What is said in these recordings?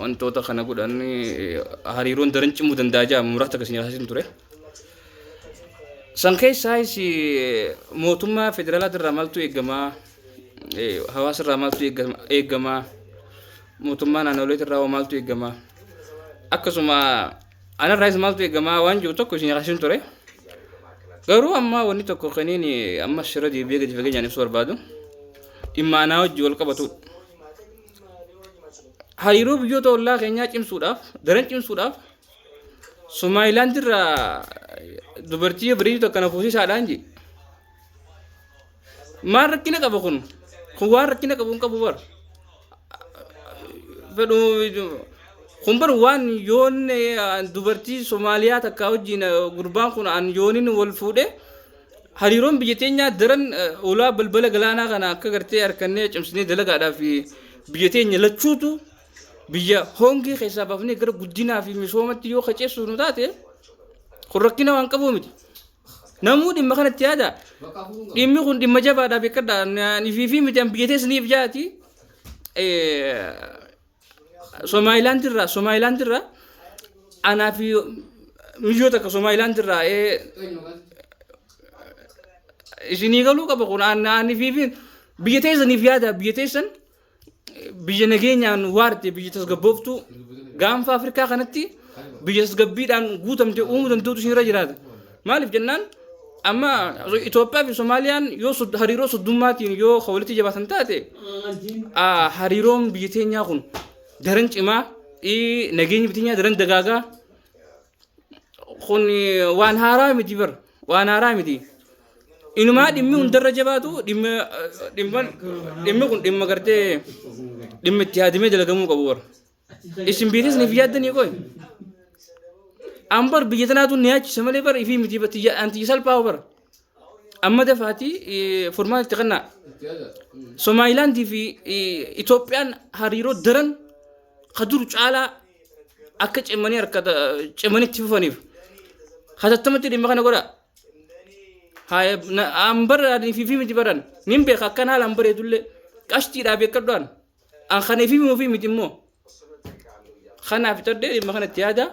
Wantoota kana godhan hariiroon daran cimuu danda'a jedha muraasa kan isin haasofsiisu ture. San keessaayis mootummaa federaalaa irraa maaltu eegama? Hawaasa irraa maaltu eegama? Mootummaa naannolee irraa maaltu eegama? Akkasuma anarraayis maaltu eegama waan jiru tokko isin haasofsiisu ture. Garuu amma wanni tokko kaniin amma shira deebi'ee gadi fageenyaan ibsu barbaadu dhimma anaa wajjin wal qabatudha. hariiroo biyyoota ollaa keenyaa cimsuudhaaf daran cimsuudhaaf Somaayilaand irraa dubartii bareedu takka na fuusisaadhaan jedhe. Maal rakkina qaba kun? Kun waan rakkina qabu hin qabu bara. Fedhu kun bara waan yoon eh, dubartii Somaaliyaa takka wajjin eh, gurbaan kun an yoonin wal fuudhee Hariiroon biyya teenyaa daran ulaa balbala galaanaa kana akka gartee harkannee cimsinee dalagaadhaaf biyya teenya lachuutu biyya hongee keessaa baafnee gara guddinaa fi misoomatti yoo qaceessuuf nu taate kun rakkina waan qabuu miti. Namuu dhimma kanatti yaada. Dhimmi kun dhimma jabaadhaa beekadha. Ani fi fi miti an biyya teessaniif jaati. Somaayilaandi irraa Somaayilaandi irraa anaa fi miyyoo takka Somaayilaandi irraa ee isinii galuu qaba kun aannaanii fi biyya teessaniif yaada biyya teessan biyya nageenyaan waarte biyya tasgabbooftu gaanfa Afrikaa kanatti biyya tasgabbiidhaan guutamte uumuu danda'utu isinirra jiraata. Maaliif jennaan amma Itoophiyaa fi Somaaliyaan yoo sud- hariiroo suddummaatiin yoo kan walitti jabaatan taate ah, hariiroon biyya teenyaa kun daran cimaa ii, nageenyi biyya teenyaa daran dagaagaa kun eh, waan haaraa miti bar waan haaraa miti. Inumaa dhimmi hundarra jabaatu dhimma eh, dhimma dhimmi kun dhimma gartee dhimma itti yaadamee dalagamuu qabu bar. Isin biitis niif yaaddanii qoy. An bar biyya tanaatu ni yaachisa malee bar ifii miti batti anti salphaa bar. Amma dafaati furmaata itti kannaa. Somaayilaandii fi Itoophiyaan hariiroo daran ka dur caalaa akka cimanii harka cimanii itti fufaniif. Hatattamatti dhimma kana godhaa. Haaya an bara fi fi miti baran nin beeka akkan haalaan bareedullee qashtiidhaa beekadhu an. An kan ifii ofii miti immoo. Kanaaf tadde dhimma kanatti yaada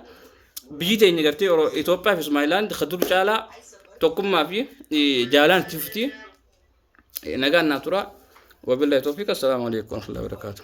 biyyi teenya gartee Oro- Itoophiyaa fi Somalilaand ka dur caalaa tokkummaa fi eh, jaalaan itti fufti. Eh, Nagaan naa tura. Wabillahi toofiq. Assalaamu alaikum warahmatullahi wabarakatuh.